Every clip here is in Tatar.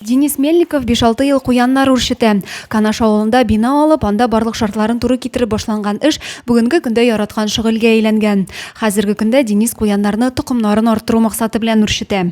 Денис Мельников 5-6 ел куяннар үрчетә. Канаш авылында бина алып, анда барлык шартларын туры китереп башланган эш бүгенге көндә яраткан шөгыльгә әйләнгән. Хәзерге көндә Денис куяннарны токымнарын арттыру максаты белән үрчетә.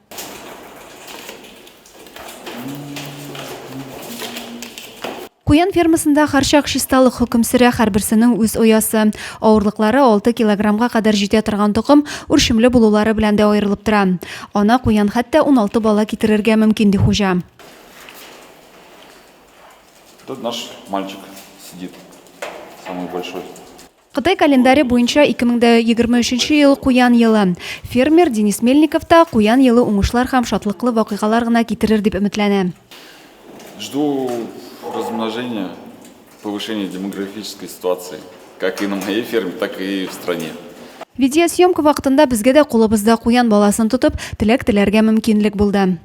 Куян фермасында харчак чисталык хөкем сөрә, һәрберсенең үз оясы. Авырлыклары 6 килограммга кадәр җитә торган токым үрчемле булулары белән дә аерылып тора. Ана куян хәтта 16 бала китерергә мөмкин, ди хуҗа. Тут наш мальчик сидит, самый большой. Кытай календаре буенча 2023 ел куян елы. Фермер Денис Мельников та куян елы уңышлар һәм шатлыклы вакыйгалар гына китерер дип өметләнә. Жду размножения, повышения демографической ситуации, как и на моей ферме, так и в стране. Видеосъемка вакытында безгә дә кулыбызда куян баласын тотып, теләк теләргә мөмкинлек булды.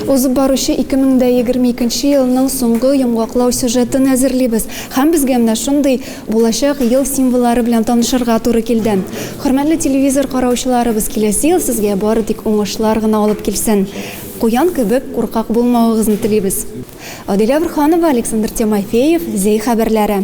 Узып баручы 2022 елның соңгы йомгаклау сюжетын әзерлибез һәм безгә менә шундый булачак ел символлары белән танышырга туры килде. Хөрмәтле телевизор караучыларыбыз, киләсе ел сезгә бары тик уңышлар гына алып килсен. Куян кебек куркак булмавыгызны телибез. Адилә Борһанова, Александр Тимофеев, Зәй хәбәрләре.